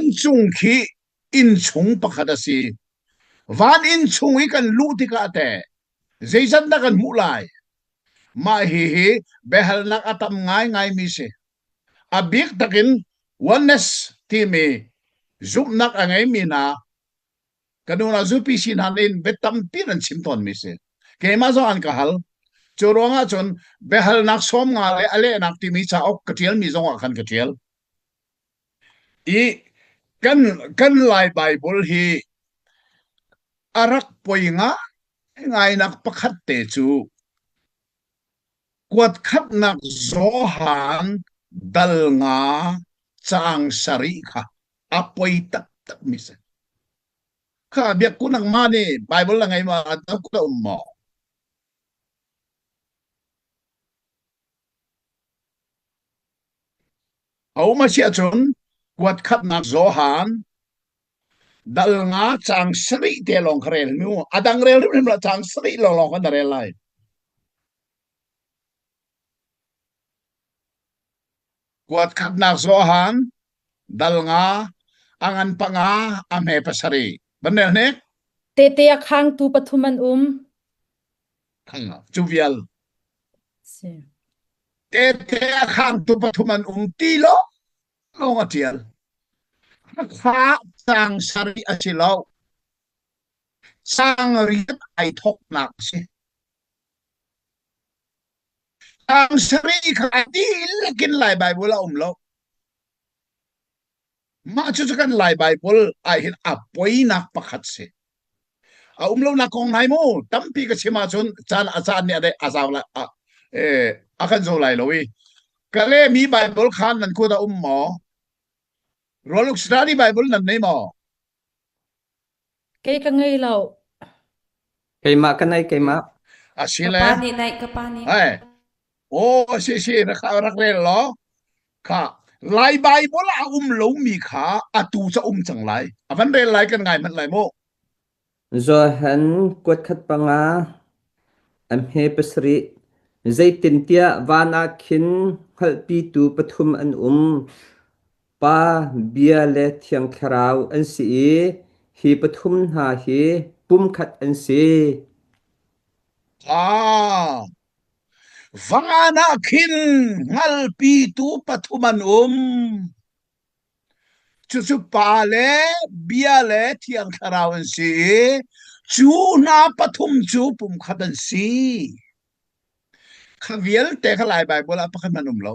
Inncung khi innchung pakhat a si. Van innchung i kan luh tikah teh zeizat dah kan hmuh lai? Mah hi hi biahalnak a tam ngaingaimi si. A bik takin oneness timi zumhnak a ngeimi hna kan unau zupi si hna nih bia tampi nan chim tawnmi si. Keimah zong an ka hal. Cu ruangah cun biahalnak sawm nga le a lehnak timi cauk ka ṭialmi zongah khan ka ṭial. I kan Lai Baibal hi a rak poi ngaingai pakhat te cu kuat khatnak Johan dal nga caang sarih kha a poi taktak mi si. Kha biakku nangmah nih Baibal na ngei ma na ku na um maw? A um asiahcun kuat khatnak Johan dal nga caang sarih te lawng kha rel hrim u. A dang rel hrimhrim lo caang sarih lawnglawng kha na rel lai. Kuat khatnak Johan dal nga a ngan panga a hme pasarih. Van nel hnik? Tehte a khangtu pathum an um. cu vial si tete a khangtu pathum an um ti lo lawng a tial khakha sang sari a si lo sang riat ai thoknak a si sang sari kha dilakin lai Bible a um lo Mah cucu kan laibai pawl ahhin a poinak pakhat si. A um lonak kong hnai mu tampi ka chim ahcun caan a caan nih a dei a zau lai a, eh, a kan zo lai lo i ka le mi Bible kha nan kut a um maw? Royal Australi Bible nan nei maw? Kei ka ngei lo. Keimah ka nei keimah. ka Asile, pa nih naih ka pa nih ai, aw si si, rak rak rel law, kha Lai Bible ah a um lomi kha atu cu a um cang lai. A van rel lai kan ngai manh lai mu. Johan kuat khat panga am he pasarih zeitintiah van ah khin hngalhpitu pathum an um Pa, bia le thiang thlarau an si i hi pathum hna hi pumkhat an si. Ah, van ah khin hngalpitu pathum an um. Cucu pa le bia le thiang thlarau an si i cu hna pathum cu pumkhat an si. Kha vialte kha Lai Baibal ah pakhat an um lo.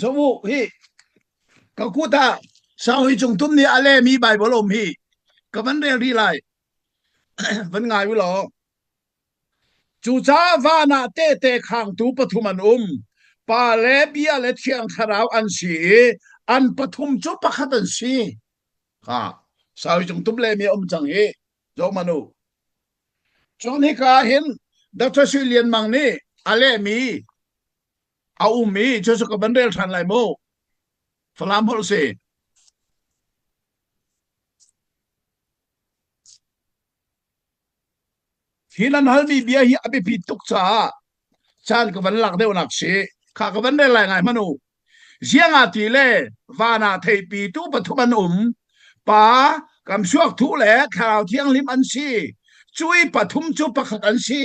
Zoh u hi ka kut ah sau hi cung tum nih a lemi Baibal um hi ka van rel rih lai van ngai u law cucaah van ah tehte khangtu pathum an um pa le bia le thiang thlarau an si i an pathum cu pakhat an si ha sau hi cung tum lemi a um cang hi zoh man u cun hika hin Dr. Sui Lian Mang nih a lehmi a um i cucu ka van rel ṭhan lai mu falam holh si hi nan halmi bia hi a biapi tuk caah caan ka van lak deuhnak si kha ka van rel lai ngai manu ziangati le vana theipi tu pathum an um pa kam suak thu le thlarau thiang lim an si cui pathum cu pakhat an si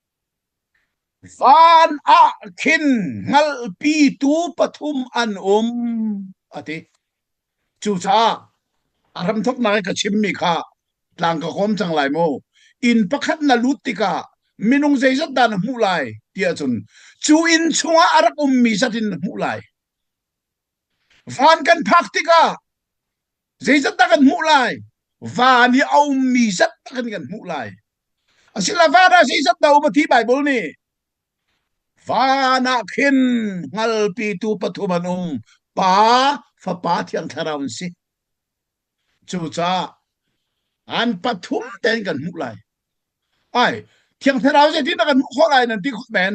Van ah khin hngalhpitu pathum an um, a ti. Cucaah a hramthoknak i ka chimmi kha tlang ka kawm cang lai maw? Inn pakhat na lut tikah minung zeizat dah na hmuh lai ti ahcun cu inn chungah a rak ummi zat in na hmuh lai. Van kan phak tikah Zeicatdah kan hmuh lai? Van hi a ummi zat tak in kan hmuh lai. Asila van ah zeizat dah a um a ti Baibal nih? Van ah khin hngalpitu pathum an um. Pa, Fapa, Thiang Thlarau an si. Cucaah an pathum ten kan hmuh lai. Ai, Thiang Thlarau zeitin dah kan hmuh khawh lai nan ti khawh men?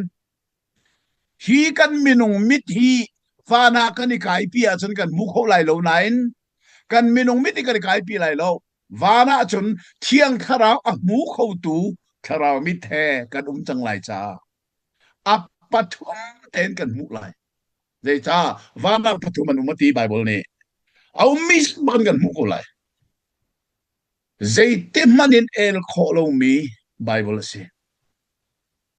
Hi kan minung mit hi fan ah kan i kaipi ahcun kan hmu kho lai lo nain kan minung mit hi kan i kaipi lai lo. Van ahcun Thiang Thlarau a hmu khotu thlarau mit he kan um cang lai caah a pathum tein kan hmuh lai. Zeicah van ah pathum an um a ti Baibal nih. A ummi bak in kan hmuh ko lai. Zeiti hmanh in el khawh lomi Baibal a si.